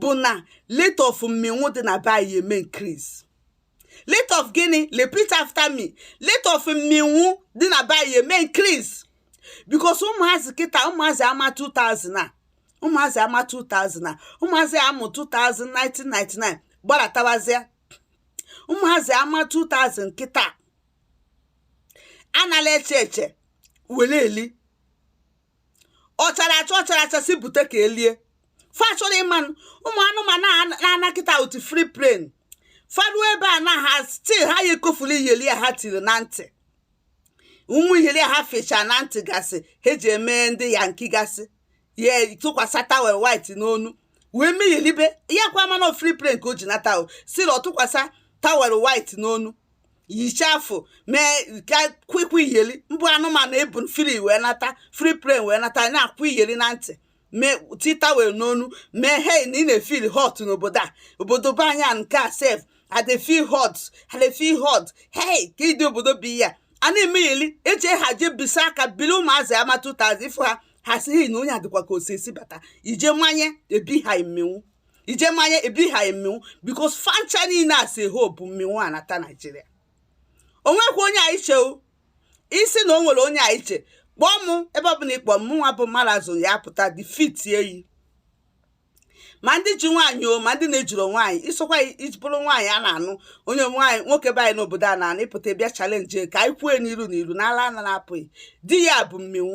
bụ na rate of mmịnwụ dị na be anyị eme increase rate of gịnị repeat after me rate of mmịnwụ dị na be anyị eme increase because ụmụazị kịta ụmụazị ama 2000 a ụmụazị ama 2000 a ụmụazị a mụ 2000 1999 gbaratabazịa ụmụazị ama 2000 kịta anarọ eche eche were eli ọ chara acha ọ chara acha si bute ka e lie fa achọrọ ịma ụmụ anụmanụ na-ana kịta otu free plane fa ruo ebe a na ha still ha ya ekofuru iyeli ya ha tiri na ntị ụmụ iyeli ha fecha na ntị gasị ha ji eme ndị yankee gasị ya tụkwasị towel white n'onu wee mee iyelibe ya kwa mana free plane ka o ji nata o siri ọ tụkwasị towel white n'onu yichafụ mee ka kwikwa iyeli mbụ anụmanụ e bu free wee nata free plane wee nata na-akwụ iyeli na ntị mee ti towel n'onu mee hei na ị na-efeel hot n'obodo a obodo be anyị nke a sef adefi hot adefi hot hei ka ịdị obodo bi ya a na-eme iyeli eji ha jee bisa aka bili ụmụazị ama 2000 ị fụ ha ha si hei na onye adịkwa ka osisi bata ị je manye ebiha ị mmịnwụ ị je manye ebiha ghị mmịnwụ because fa ncha niile a sị ha bu mmịnwụ a nata nigeria o nwekwa onye anyị che isi na o nwere onye anyị che kpọọ m ebe ọbụla ị kpọọ mụnwa bụ marazụ ya pụta defeat ị ma ndị ji nwaanyị o ma ndị na-ejiro nwaanyị ị sokwa iji bụrụ nwaanyị a na-anụ onye nwaanyị nwoke be anyị n'obodo a na-anụ ị pụta bịa challenge ka anyị kwue n'iru n'iru n'ala a na-apụghị di ya bụ mmịnwụ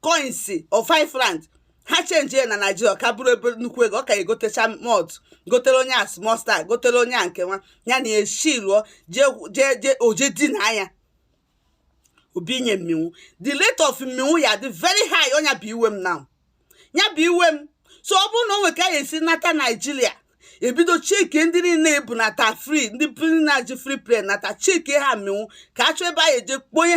coins of five rand ha change ya na nigeria ka bụrụ ebe nnukwu ego ọ ka egotecha moto gotere onye a small stout gotere onye a nke nwa ya na eshi lụọ jee o je dina ya o binye mmịnwụ the rate of mmịnwụ ya dị very high ọ ya bụ iwe m na ọ ya bụ iwe m so ọ bụrụ na o nwere ka ya esi nata nigeria e bido checkie ndị niile e bu nata free ndị niile ji free plane nata checkie ha mmịnwụ ka a chọọ ebe a eje kpọnye